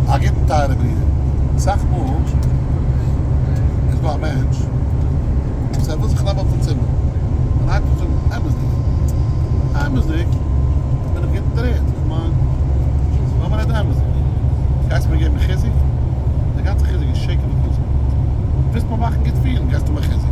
א גוטן טייערע ברודער, אסאך מאל איז דא א מענטש וואס ער וויל זיך נעמען אויפן צימער, און היינט וועט זאגן אמת'דיג, אמת'דיג בין איך גוט דערהערט, איך מיין לאז מיר רעדן אמת'דיג, גייסט מיר געבן חיזוק, די גאנצע חיזוק איז שקר וכזב, ווילסט מיר מאכן גוט פילן גייסטו מיר חיזוק.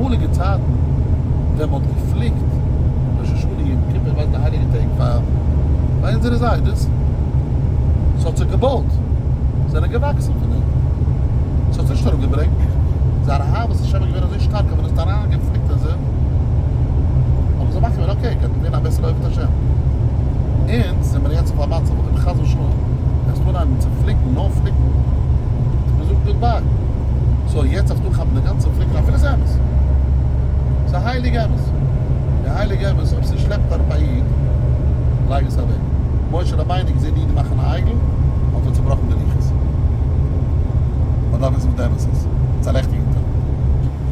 אמאליגע צייטן ווען מ'האט געפליקט ראש השנה יום כיפור ווייל די הייליגע טעג פאר ביי אונזערע זיידעס ס'האט זיך געבויט זענען געוואקסן פון דעם ס'האט נישט אראפגעברענגט זייער אהבת השם איז געווען אזוי שטארק אז מען האט עס אריינגעפליקט אין זיך האבן זיי מחליט געווען אקעי גייט מען ווערן א בעסערע אוהבת השם אונז זעמער יעצט אויף א מצב אויב חס ושלום וועסטו אנהייבן צו פליקן נאר פליקן מ'זאגט גוד ביי סאו יעצט נישט אנכאפן די גאנצע פליקער אפילו ס'איז אמת. ס'איז א הייליגע אמת. די הייליגע אמת אויב ס'שלעפט אראפ א איד לייג עס אוועק. משה רבינו געזען אידן מאכן א עגל האט ער צובראכן די לוחות. מ'דארף וויסן וואס די אמת איז. צעלעכטיגן טאן.